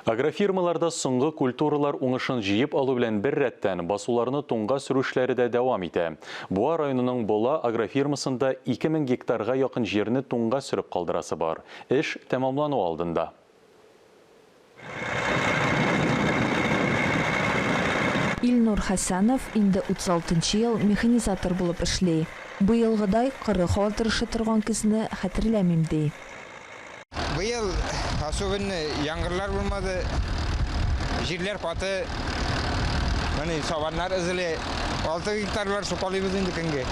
Агрофирмаларда соңгы культуралар уңышын җыеп алу белән беррәттән, басуларны туңга сөрү эшләре дә дәвам итә. Буа районының Бола агрофирмасында 2000 гектарга якын җирне туңга сөреп калдырасы бар. Эш тәмамлану алдында. Илнур Хәсәнов инде 36 нчы ел механизатор булып эшли. Быелгыдай коры һава торышы торган көзне хәтерләмим, ди. Быел особенно яңгырлар булмады. Җирләр каты. Менә сабаннар эзли. Алты гектарлар сукалыйбыз инде көнге.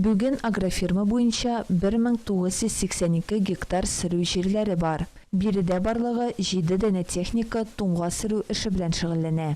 Бүген агрофирма буенча 1982 гектар сөрү җирләре бар. Биредә барлыгы җиде данә техника туңга сөрү эше белән шөгыльләнә.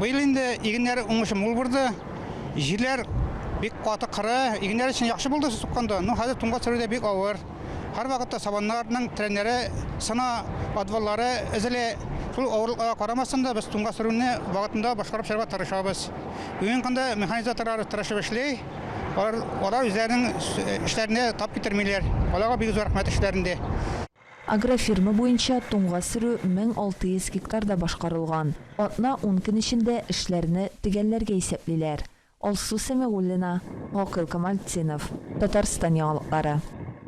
Быел инде игеннәр уңышы мул булды. Җирләр бик каты кыры, игеннәр өчен яхшы булды су сукканда. Ну хәзер туңга төшерүдә бик авыр. Һәрвакытта сабаннарның треннәре сына, отваллары өзелә. Шул авырлыкларга карамастан да без туңга сөрүне вакытында башкарып чыгарга тырышабыз. Бүгенге көндә механизаторлар тырышып эшли. Алар үзләренең эшләрендә тап китермиләр. Аларга бик зур рәхмәт эшләрендә. Агрофирма буенча туңга сөрү 1600 гектарда башкарылган. Атна-ун көн эчендә эшләрне төгәлләргә исәплиләр. Алсу Сәмигуллина, Гакыйл Камалтдинов. Татарстан яңалыклары.